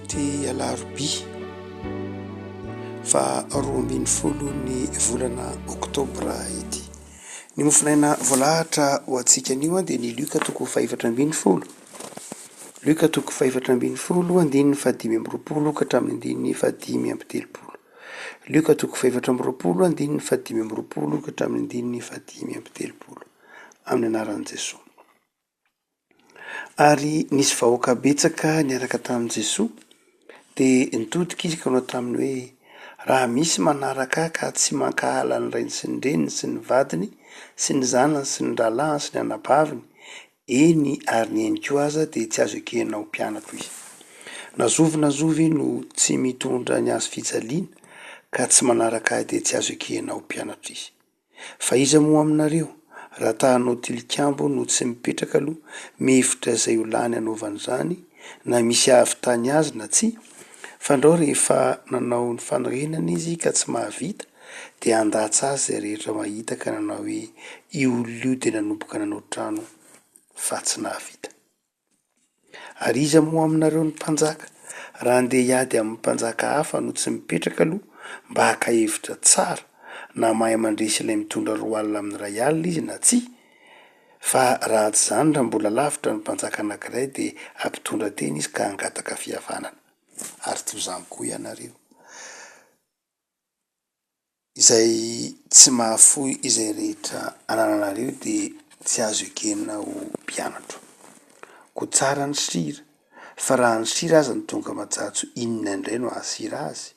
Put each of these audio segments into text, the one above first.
Ity alarobia faha roa ambin'ny folo ny volana oktobra ity. Ny mofonaina voalahatra ho antsika anio dia ny Lioka toko fahefatra ambin'ny folo. Lioka toko fahefatra ambin'ny folo andininy fahadimy amby roapolo ka hatramin'ny andininy fahadimy amby telopolo. Lioka toko fahefatra amby roapolo andininy fahadimy amby roapolo ka hatramin'ny andininy fahadimy amby telopolo. Amin'ny anaran'i Jesoa. Ary nisy vahoaka betsaka niaraka tamin'i Jesoa, dia nitodika izy ka nanao taminy hoe, Raha misy manaraka ahy ka tsy mankahala ny rainy sy ny reniny sy ny vadiny sy ny zanany sy ny rahalahiny sy ny anabaviny, eny, ary ny ainy koa aza, dia tsy azo ekena ho mpianako izy. Na zovy na zovy no tsy mitondra ny hazofijaliana ka tsy manaraka ahy dia tsy azo ekena ho mpianatro izy. Fa iza moa aminareo raha ta hanao tilikambo no tsy mipetraka aloha mihevitra izay ho lany hanaovany izany na misy hahavitany azy na tsia fa ndrao rehefa nanao ny fanorenana izy ka tsy mahavita dia handatsa azy izay rehetra mahita ka nanao hoe io olona io dia nanomboka nanao trano fa tsy nahavita. Ary iza moa aminareo no mpanjaka? Raha andeha hiady amin'ny mpanjaka hafa no tsy mipetraka aloha mba haka hevitra tsara na mahay mandresy ilay mitondra roa alina amin'ny iray alina izy na tsia, fa raha tsy izany raha mbola lavitra ny mpanjaka anankiray dia hampitondra tena izy ka hangataka fihavanana. Ary toy izany koa ianareo. Izay tsy mahafoy izay rehetra anananareo dia tsy azo ekena ho mpianatro. Koa tsara ny sira, fa raha ny sira aza no tonga majatso inona indray no hahasira azy?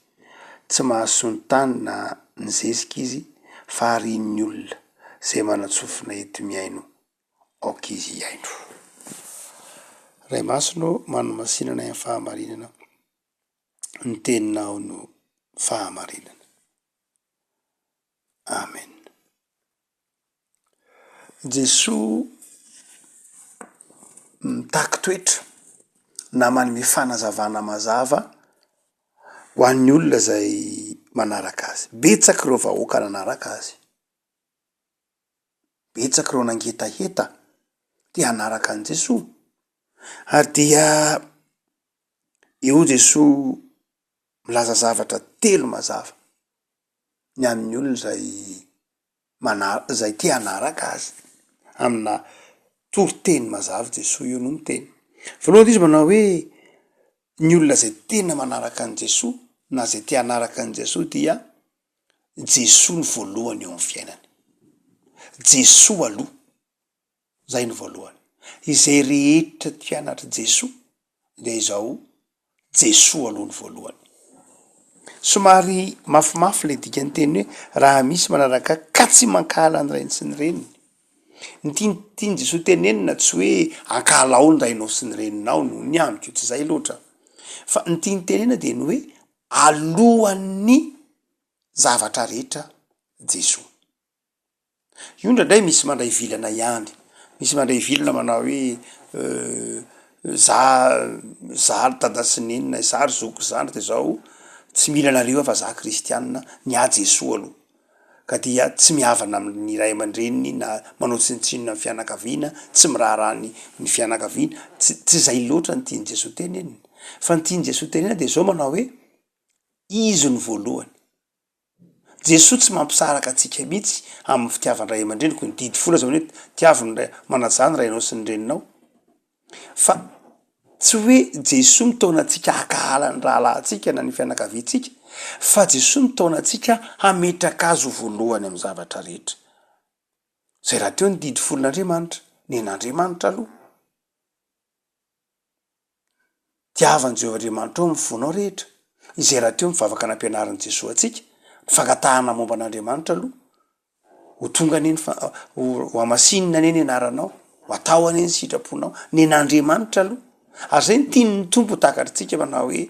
Tsy mahasoa ny tany na ny zezika izy fa harian'ny olona izay manan-tsofina eto mihaino aoka izy hihaino. Ray Masina ô, manomasinana ny fahamarinana. Ny teninao no fahamarinana. Amen. Jesoa mitaky toetra na manome fanazavana mazava ho an'ny olona izay manaraka azy. Betsaka ireo vahoaka nanaraka azy, betsaka ireo nangetaheta te hanaraka an'i Jesoa ary dia Eo Jesoa milaza zavatra telo mazava ny an'ny olona izay mana- izay te hanaraka azy amina toriteny mazava Jesoa eo no miteny. Voalohany dia izy manao hoe ny olona izay tena manaraka an'i Jesoa na izay te hanaraka an'i Jesoa dia Jesoa no voalohany eo amin'ny fiainany. Jesoa aloha. Izay no voalohany. Izay rehetra tia an'Atra Jesoa dia izao, Jesoa aloha no voalohany. Somary mafimafy ilay dikan'ny teny hoe raha misy manaraka Ahy ka tsy mankahala ny rainy sy ny reniny. Ny tian- tian'i Jesoa tenenina tsy hoe ankahalao ny rainao sy ny reninao noho ny amiko, tsy izay loatra, fa ny tiany tenena dia ny hoe alohan'ny zavatra rehetra Jesoa. Io indraindray misy mandray vilana ihany, misy mandray vilana manao hoe za za ry dada sy neny, za ry zoky sy zandriko izao tsy mila anareo aho fa za kristianina, ny ahy Jesoa aloha. Ka dia tsy mihavana amin'ny ray aman-dreniny na manao tsinontsinona ny fianakaviana, tsy miraharaha ny ny fianakaviana, tsy tsy zay loatra ny tian'i Jesoa tenenina. Fa ny tian'i Jesoa tenenina dia zao manao hoe, izy no voalohany. Jesoa tsy mampisaraka antsika mihitsy amin'ny fitiavan ray aman-dreniko, ny didy folo aza hoe tiavo ny ray, manaja ny rainao sy ny reninao, fa tsy hoe Jesoa mitaona antsika hakahala ny rahalahintsika na ny fianakaviantsika, fa Jesoa mitaona antsika hametraka azy ho voalohany amin'ny zavatra rehetra. Zay rahateo ny didy folon'Andriamanitra, nen'Andriamanitra aloha. Tiavan'i Jehovah Andriamanitrao amin'ny fonao rehetra. Izay rahateo mivavaka nampianarin'i Jesoa antsika, ny fangatahana momba an'Andriamanitra aloha, Ho tonga anie ny fa- ho hamasinina anie ny anaranao, ho atao anie ny sitraponao, nen'Andriamanitra aloha. Ary izay no tian'ny Tompo ho takatr'tsika manao hoe,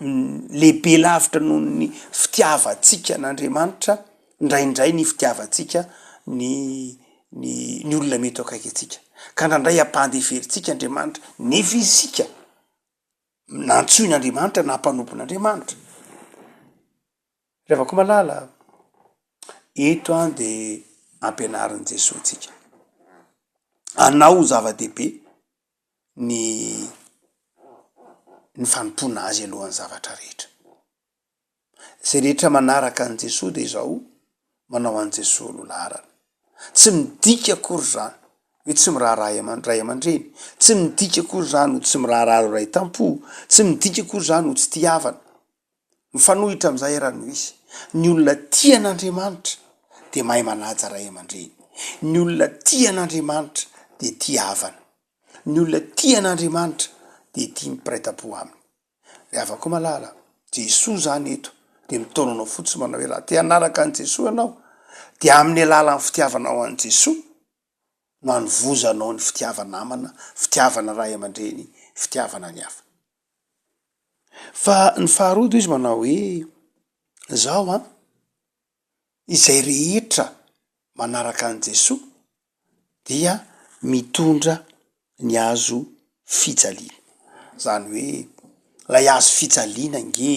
lehibe lavitra noho ny fitiavantsika an'Andriamanitra, indraindray ny fitiavantsika ny ny ny olona mety eo akaiky antsika. Ka indraindray ampandeferintsika Andriamanitra nefa isika nantsoin'Andriamanitra na mpanompon'Andriamanitra. Ry havako malala, eto a de ampianarin'i Jesoa antsika, anao zava-dehibe ny ny fanompoana azy alohan'ny zavatra rehetra. Izay rehetra manaraka an'i Jesoa dia izao manao an'i Jesoa no laharana. Tsy midika akory izany hoe tsy miraharaha aman- ray aman-dreny, tsy midika akory izany ho tsy miraharaha ireo ray tam-po, tsy midika akory izany ho tsy tia havana. Mifanohitra amin'izay ary no izy. Ny olona tia an'Andriamanitra dia mahay manaja ray aman-dreny. Ny olona tia an'Andriamanitra dia tia havana. Ny olona tia an'Andriamanitra dia tia mipiraitampo aminy. Ry havako malala, Jesoa izany eto dia mitaona anao fotsiny manao hoe raha te hanaraka an'i Jesoa ianao dia amin'ny alalan'ny fitiavanao an'i Jesoa no hanovozanao ny fitiava-namana, fitiavana ray aman-dreny, fitiavana ny hafa. Fa ny faharoa dia izy manao hoe, izao an, izay rehetra manaraka an'i Jesoa dia mitondra ny hazo fijaliana. Izany hoe ilay hazo fijaliana ange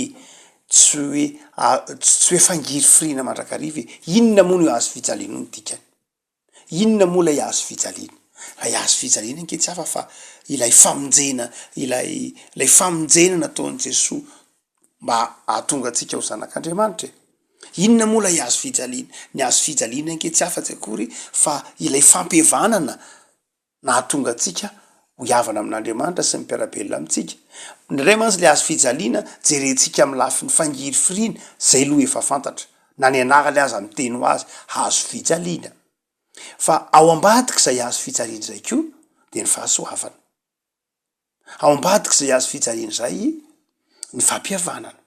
tsy hoe a- tsy hoe fangirifiriana mandrakariva e! Inona moa no hazo fijaliana io ny dikany? Inona moa ilay hazo fijaliana? Ilay hazo fijaliana ange tsy hafa fa ilay famonjena, ilay ilay famonjena nataon'i Jesoa mba hahatonga antsika ho zanak'Andriamanitra e. Inona moa ilay hazo fijaliana? Ny hazo fijaliana ange tsy hafa tsy akory fa ilay fampihavanana. nahatonga antsika ho hihavana amin'Andriamanitra sy ny mpiara-belona amintsika. Indraindray mantsy ilay hazo fijaliana jerentsika amin'ny lafiny fangirifiriana, izay aloha efa fantatra, na ny anarany aza miteny ho azy, hazo fijaliana. Fa ao ambadik'izay hazo fijaliana izay koa dia ny fahasoavana. Ao ambadik'izay hazo fijaliana izay ny fampihavanana.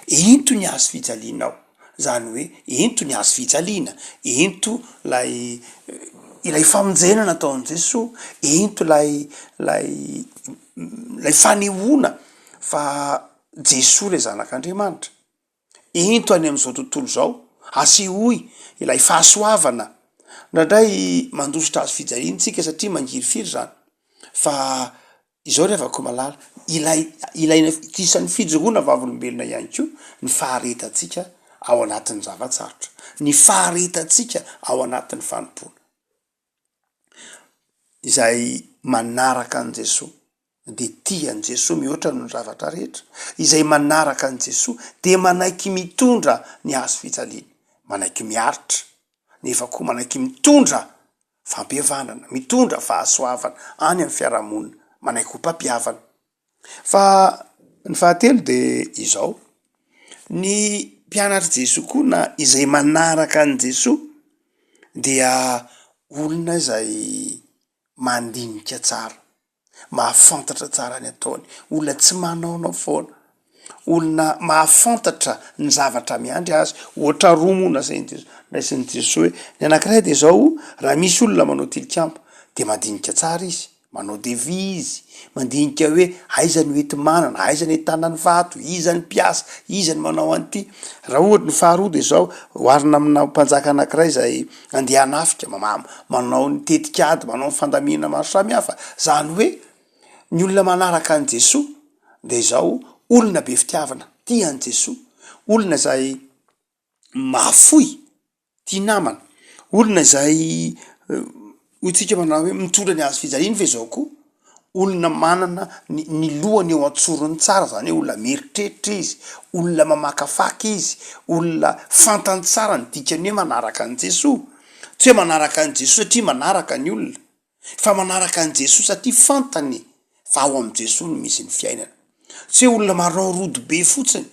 Ento ny hazo fijalianao, izany hoe ento ny hazo fijaliana, ento ilay ilay famonjena nataon'i Jesoa, ento ilay ilay ilay fanehoana fa Jesoa ilay Zanak'Andriamanitra. Ento any amin'izao tontolo izao, asehoy ilay fahasoavana. Indraindray mandositra hazo fijaliana isika satria mangirifiry izany fa. Izao ry havako malala, ilay ilaina isan'ny fijoroana vavolombelona ihany koa ny faharetantsika ao anatin'ny zava-tsarotra, ny faharetantsika ao anatin'ny fanompoana. Izay manaraka an'i Jesoa dia tia an'i Jesoa mihoatra noho ny zavatra rehetra, izay manaraka an'i Jesoa dia manaiky mitondra ny hazo fijaliany, manaiky miaritra nefa koa manaiky mitondra fampihavanana, mitondra fahasoavana any amin'ny fiarahamonina, manaiky ho mpampihavana. Fa ny fahatelo dia izao, ny mpianatr'i Jesoa koa na izay manaraka an'i Jesoa dia olona izay mandinika tsara. mahafantatra tsara ny ataony, olona tsy manaonao foana, olona mahafantatra ny zavatra miandry azy, ohatra roa moa nasain'i Jesosy, naisin'i Jesosy hoe, ny anankiray dia izao, raha misy olona manao tilikambo dia mandinika tsara izy, manao devis izy, mandinika hoe aiza no enti-manana, aiza no ahitana ny vato, iza ny mpiasa, iza no manao an'ity, raha ohatra ny faharoa dia izao, oharina amina mpanjaka anankiray izay. Andeha hanafika, mamamo, manao ny tetikady, manao ny fandaminana maro samihafa. Zany hoe ny olona manaraka an'i Jesoa dia izao olona be fitiavana, tia an'i Jesoa, olona izay mahafoy, tia namana, olona izay hoy tsika manao hoe mitondra ny hazofijaliany ve zao koa? Olona manana ny ny lohany eo an-tsorony tsara, zany hoe olona mieritreritra izy, olona mamakafaka izy, olona fantany tsara ny dikany hoe manaraka an'i Jesoa. Tsy hoe manaraka an'i Jesoa satria manaraka ny olona, fa manaraka an'i Jesoa satria fantany fa ao amin'i Jesoa no misy ny fiainana. Tsy hoe olona manao rodobe fotsiny,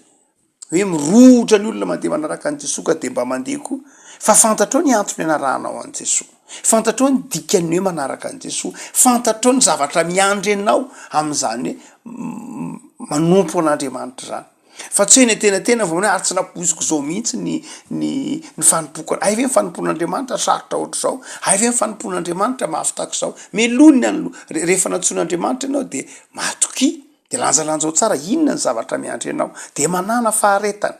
hoe mirohotra ny olona mandeha manaraka an'i Jesoa ka dia mba mandeha koa fa fantatrao ny antony anarahanao an'i Jesoa, fantatrao ny dikany hoe manaraka an'i Jesoa, fantatrao ny zavatra miandry anao amin'izany hoe manompo an'Andriamanitra izany fa tsy hoe eny an-tenantena vao hoe ary tsy nampoiziko izao mihitsy ny ny ny fanompoako anao, hay ve ny fanompoan'Andriamanitra sarotra ohatr'izao, hay ve ny fanompoan'Andriamanitra mahavitako izao, meloha ny an'lo- rehefa nantsoin'Andriamanitra ianao dia matokia. Dia lanjalanjao tsara inona ny zavatra miandry anao, dia manàna faharetana.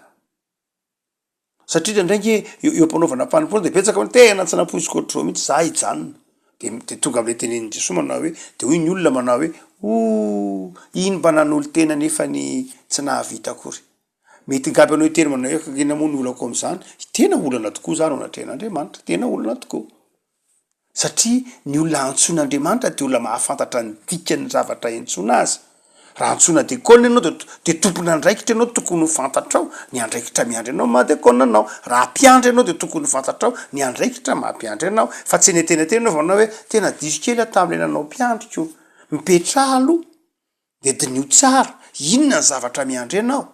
Satria indraindray ange eo eo am-panaovana fanompoana dia betsaka hoe tena tsy nampoiziko ohatr'izao mihitsy za hijanona. Dia m- dia tonga am'le tenenin'i Jesoa manao hoe, de hoy ny olona manao hoe, oh! iny mba nanolo-tena nefany tsy nahavita akory. Mety hingaba anao hiteny manao hoe, inona moa ny olako am'zany? Tena olana tokoa za no anatrehan'Andriamanitra, tena olana tokoa. satria ny olona antsoin'Andriamanitra dia olona mahafantatra ny dikan'ny zavatra iantsoana Azy. Raha antsoina dekona ianao dia dia tompon'andraikitra ianao tokony ho fantatrao ny andraikitra miandry anao maha dekona anao. Raha mpiandry ianao dia tokony ho fantatrao ny andraikitra maha mpiandry anao. Fa tsy eny an-tenantena ianao vao manao hoe tena diso kely aho tamin'ilay nanao mpiandriko. Mipetraha aloha. Dia diniho tsara, inona ny zavatra miandry anao?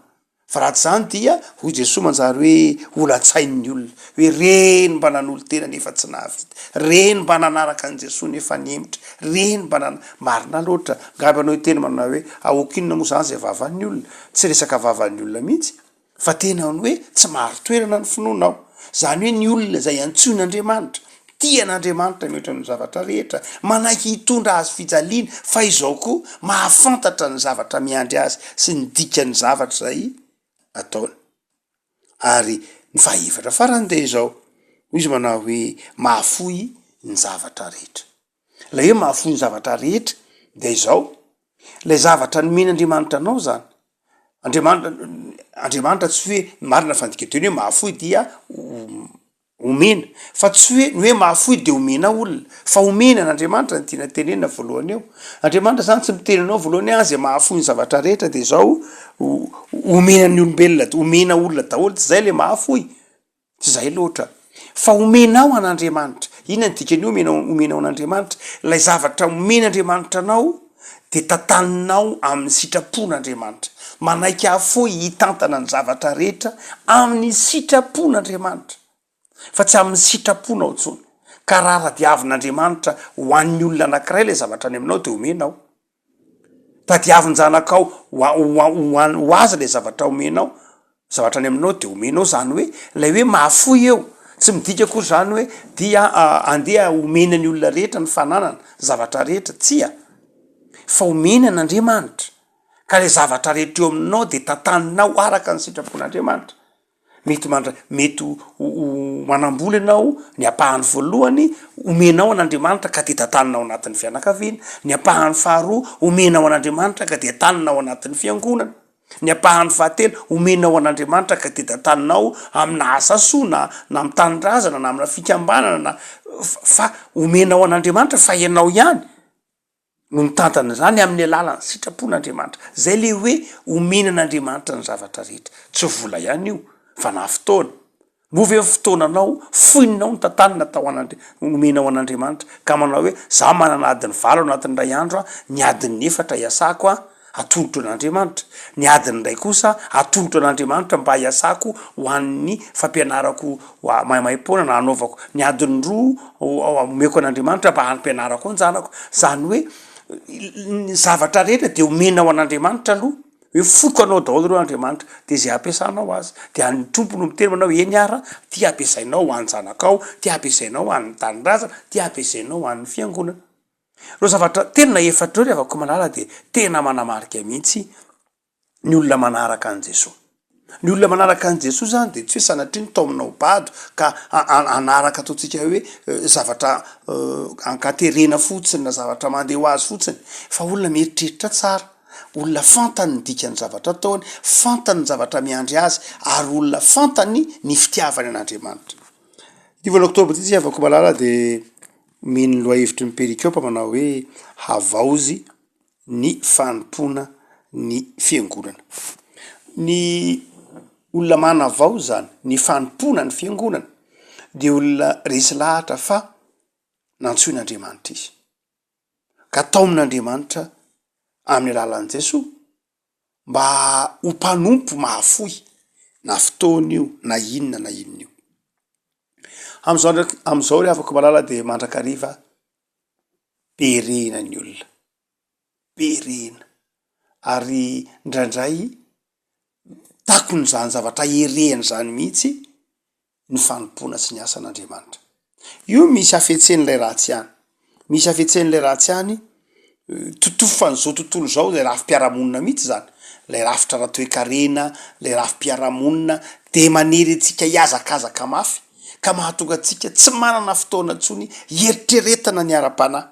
Fa raha tsy izany dia, hoy Jesoa manjary hoe holan-tsainy ny olona, hoe reny mba nanolo-tena nefa tsy nahavita, reny mba nanaraka an'i Jesoa nefa nihemotra, reny mba nan-. Marina loatra, ngamba ianao hiteny manao hoe, aoka inona moa izany izay vavan'ny olona? Tsy resaka vavan'ny olona mihitsy. fa tena ny hoe tsy marin-toerana ny finoanao, izany hoe ny olona izay antsoin'Andriamanitra, tia an'Andriamanitra mihoatra ny zavatra rehetra, manaiky hitondra azy fijaliana, fa izao koa mahafantatra ny zavatra miandry azy sy ny dikan'ny zavatra izay ataony. Ary ny fahaefatra farany dia izao, hoy izy manao hoe, mahafoy ny zavatra rehetra. Ilay hoe mahafoy ny zavatra rehetra dia izao, ilay zavatra nomen'Andriamanitra anao zany, Andriamanitra Andriamanitra tsy hoe marina fa ny dikateny hoe mahafoy dia omena fa tsy hoe ny hoe mahafoy de omena olona fa omena an'Andriamanitra ny tiana tenenina voalohany eo, Andriamanitra zany tsy miteny anao voalohany hoe ahy zay mahafoy ny zavatra rehetra de izao omena ny olombelona omena olona daholo tsy zay le mahafoy. Tsy izay loatra, fa omenao an'Andriamanitra. Inona no dikan'ny hoe omenao, omenao an'Andriamanitra? Ilay zavatra omen'Andriamanitra anao dia tantaninao amin'ny sitrapon'Andriamanitra. Manaiky afoy hitantana ny zavatra rehetra amin'ny sitrapon'Andriamanitra, fa tsy amin'ny sitraponao intsony. Ka raha aradiavin'Andriamanitra ho an'ny olona anankiray ilay zavatra any aminao dia omenao. Tadiavin-janakao ho a- ho a- ho an- ho azy le zavatra omenao, zavatra any aminao de omenao zany hoe lay hoe mahafoy eo tsy midika akory zany hoe dia andeha homena ny olona rehetra ny fananana zavatra rehetra, tsia fa omeny an'Andriamanitra ka le zavatra rehetra eo aminao de tantaninao araka ny sitrapon'Andriamanitra. Mety mandra- mety ho ho ho manam-bola ianao, ny ampahany voalohany omenao an'Andriamanitra ka dia tantanina ao anatin'ny fianakaviana, ny ampahany faharoa omenao an'Andriamanitra ka dia tanina ao anatin'ny fiangonana, ny ampahany fahatelo omenao an'Andriamanitra ka dia tantanina ao amina asa soa na na amin'ny tanindrazana na amina fikambanana na fa- fa omenao an'Andriamanitra fa ianao ihany. no mitantana izany amin'ny alalan'ny sitrapon'Andriamanitra. Izay ilay hoe omena an'Andriamanitra ny zavatra rehetra. Tsy vola ihany io fa na fotoana. Moa ve ny fotoananao foinonao no tantanina atao an'Andri- omenao an'Andriamanitra ka manao hoe za manana adiny valo anatin'ny iray andro aho, ny adin'ny efatra iasako an! atolotro an'Andriamanitra, ny adiny indray kosa atolotro an'Andriamanitra mba hiasako ho an'ny fampianarako maimaim-poana na hanaovako, ny adiny roa omeko an'Andriamanitra mba hampianarako an-janako, izany hoe ny zavatra rehetra dia omena ho an'Andriamanitra aloha, hoe foko anao daholo ireo Andriamanitra dia izay hampiasanao azy, dia ny Tompo no miteny manao hoe eny ara ty hampiasainao ho an-janakao, ty hampiasainao ho an'ny tanindrazana, ty hampiasainao ho an'ny fiangonana. Ireo zavatra telo na efatra ireo ry havako malala dia tena manamarika mihitsy ny olona manaraka an'i Jesoa. Ny olona manaraka an'i Jesoa izany dia tsy hoe sanatria nitaomina ho bado ka hanaraka ataontsika hoe zavatra ankaterena fotsiny na zavatra mandeha ho azy fotsiny fa olona mieritreritra tsara, olona fantany ny dikan'ny zavatra ataony, fantany ny zavatra miandry azy ary olona fantany ny fitiavany an'Andriamanitra. Ny volana oktobra ity ry havako malala dia. Omeny ny lohahevitry ny perikopa manao hoe Havaozy ny fanompoana ny Fiangonana. Ny olona manavaoza ny fanompoana ny Fiangonana dia olona resy lahatra fa nantsoin'Andriamanitra izy, ka taomin'Andriamanitra amin'ny alalan'i Jesoa. mba ho mpanompo mahafoy na fotoana io na inona na inona io. Amin'izao ndraiky, amin'izao ry havako malala dia mandrakariva be rena ny olona, be rena ary ndraindray takon'izany zavatra erena izany mihitsy ny fanompoana sy ny asan'Andriamanitra. Io misy hafetsen'ilay ratsy ihany. Misy hafetsen'ilay ratsy ihany, totofan'izao tontolo izao, ilay rafi-piarahamonina mihitsy izany, ilay rafitra ara-toekarena, ilay rafi-piarahamonina dia manery antsika hihazakazaka mafy ka mahatonga antsika tsy manana fotoana intsony hieritreretana ny ara-panahy,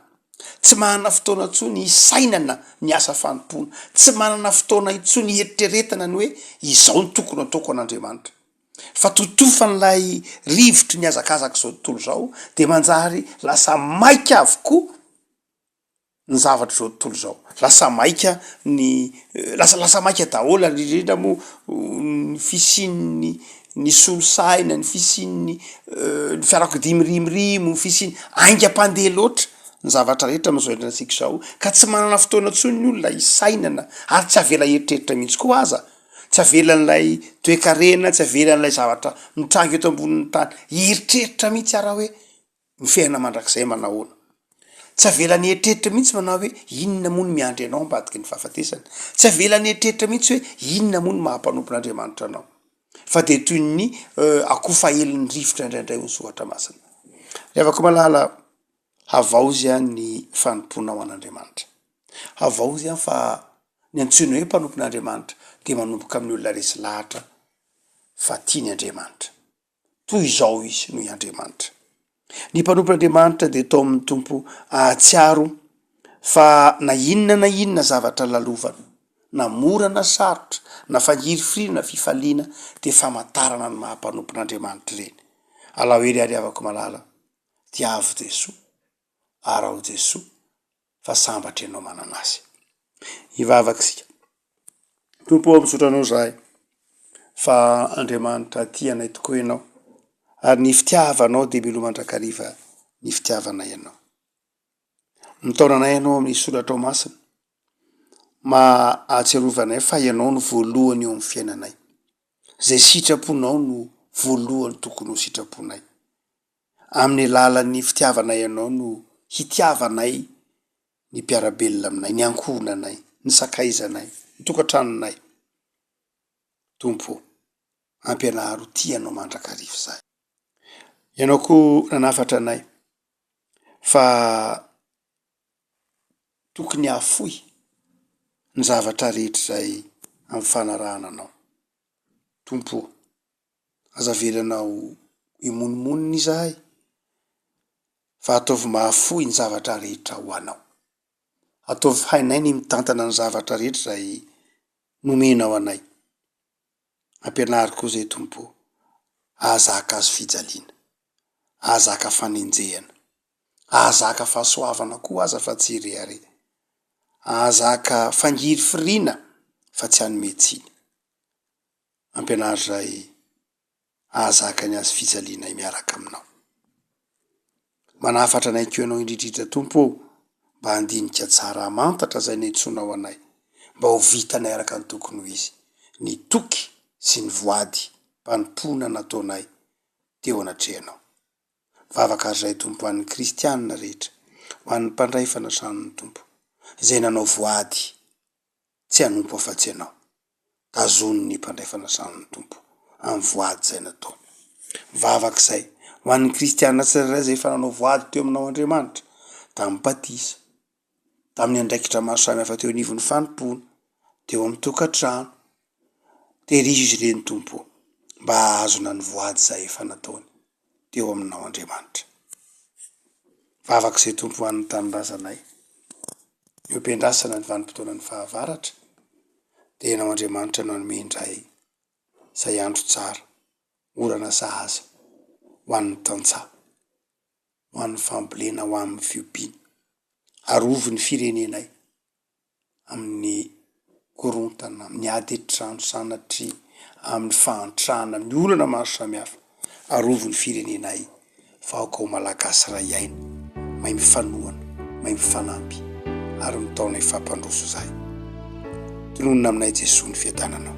tsy manana fotoana intsony hisainana ny asa fanompoana, tsy manana fotoana intsony hieritreretana ny hoe izao no tokony hataoko an'Andriamanitra. fa totofan'ilay rivotry ny hazakazak'izao tontolo izao dia manjary lasa maika avokoa ny zavatr'izao tontolo izao, lasa maika ny lasa lasa maika daholo ary indrindra moa ny fisian'ny ny solosaina, ny fisian'ny ny fiarakodia mirimirimo, ny fisian'ny haingam-pandeha loatra ny zavatra rehetra amin'izao iainana antsika izao ka tsy manana fotoana intsony ny olona hisainana ary tsy avela hieritreritra mihitsy koa aza tsy avelan'ilay toekarena, tsy avelan'ilay zavatra mitranga eto ambonin'ny tany hieritreritra mihitsy aho raha hoe ny fiainana mandrakizay manao ahoana, tsy avelany hieritreritra mihitsy manao hoe inona moa no miandry anao ambadiky ny fahafatesana, tsy avelany hieritreritra mihitsy hoe inona moa no maha mpanompon'Andriamanitra anao fa dia toy ny akoho fahelin'ny rivotra indraindray hoy ny soratra masina. Ry havako malala, Havaozia ny fanompoana ho an'Andriamanitra. Havaozia fa ny antsoina hoe mpanompon'Andriamanitra dia manomboka amin'ny olona resy lahatra fa tiany Andriamanitra. Toy izao izy noho i Andriamanitra. Ny mpanompon'Andriamanitra dia atao amin'ny Tompo hahatsiaro fa na inona na inona zavatra lalovana, na mora na sarotra, na fangirifiriana na fifaliana dia famantarana ny maha mpanompon'Andriamanitra ireny. Alao hery ary havako malala. Tiavo Jesoa, arao Jesoa fa sambatra ianao manana azy. Hivavaka isika. Tompo ô, misaotra anao izahay fa Andriamanitra tia anay tokoa ianao ary ny fitiavanao dia miloa mandrakariva ny fitiavanay anao. Mitaona anay ianao amin'ny soratrao masina mba hahatsiarovanay fa ianao no voalohany eo amin'ny fiainanay. Izay sitraponao no voalohany tokony ho sitraponay. Amin'ny alalan'ny fitiavanay anao no hitiavanay ny mpiara-belona aminay, ny ankohonanay, ny sakaizanay, ny tokantranonay. Tompo o, ampianaro ho tia anao mandrakariva izahay. Ianao koa nanafatra anay fa tokony hahafoy ny zavatra rehetra izay amin'ny fanarahana anao. Tompo o. Aza avela anao himonomonona izahay, fa ataovy mahafoy ny zavatra rehetra ho anao. Ataovy hainay ny mitantana ny zavatra rehetra izay nomenao anay. Ampianaro koa izay Tompo o, hahazaka hazo fijaliana, hahazaka fanenjehana, hahazaka fahasoavana koa aza fa tsy hirehareha, hahazaka fangirifiriana fa tsy hanome tsiny. ampianaro izay hahazaka ny hazofijalianay miaraka aminao. Manafatra anay koa ianao indridridra Tompo ô, mba handinika tsara, hamantatra izay niantsoanao anay, mba ho vitanay araka ny tokony ho izy ny toky sy ny voady mpanompoana nataonay teo anatrehanao. Vavaka ary izay Tompo ho an'ny kristianina rehetra, ho an'ny mpandray fanasany ny Tompo, izay nanao voady tsy hanompo afa-tsy Ianao. Tazono ny mpandray fanasana Tompo, amin'ny voady izay nataony. Mivavaka izay, ho an'ny kristiana tsirairay izay efa nanao voady teo aminao Andriamanitra, tamin'ny batisa, tamin'ny andraikitra maro samihafa teo anivon'ny fanompoana, teo amin'ny tokantrano, Terizo izy ireny Tompo o, mba hahazona ny voady izay efa nataony teo aminao Andriamanitra. Vavaka izay Tompo ho an'ny tanindrazanay. Ny open-drasana ny vanim-potoanan'ny fahavaratra dia ianao Andriamanitra no hanome indray izay andro tsara, orana sahaza ho an'ny tantsaha, ho an'ny fambolena, ho amin'ny fiompiana. Arovy ny firenenay amin'ny korontana, amin'ny ady an-trano sanatria, amin'ny fahantrana, amin'ny olana maro samihafa. Arovy ny firenenay fa aoka ho Malagasy iray aina, mahay mifanohana, mahay mifanampy ary mitaona ny fampandroso izay tononina aminay Jesoa ny fiadananao.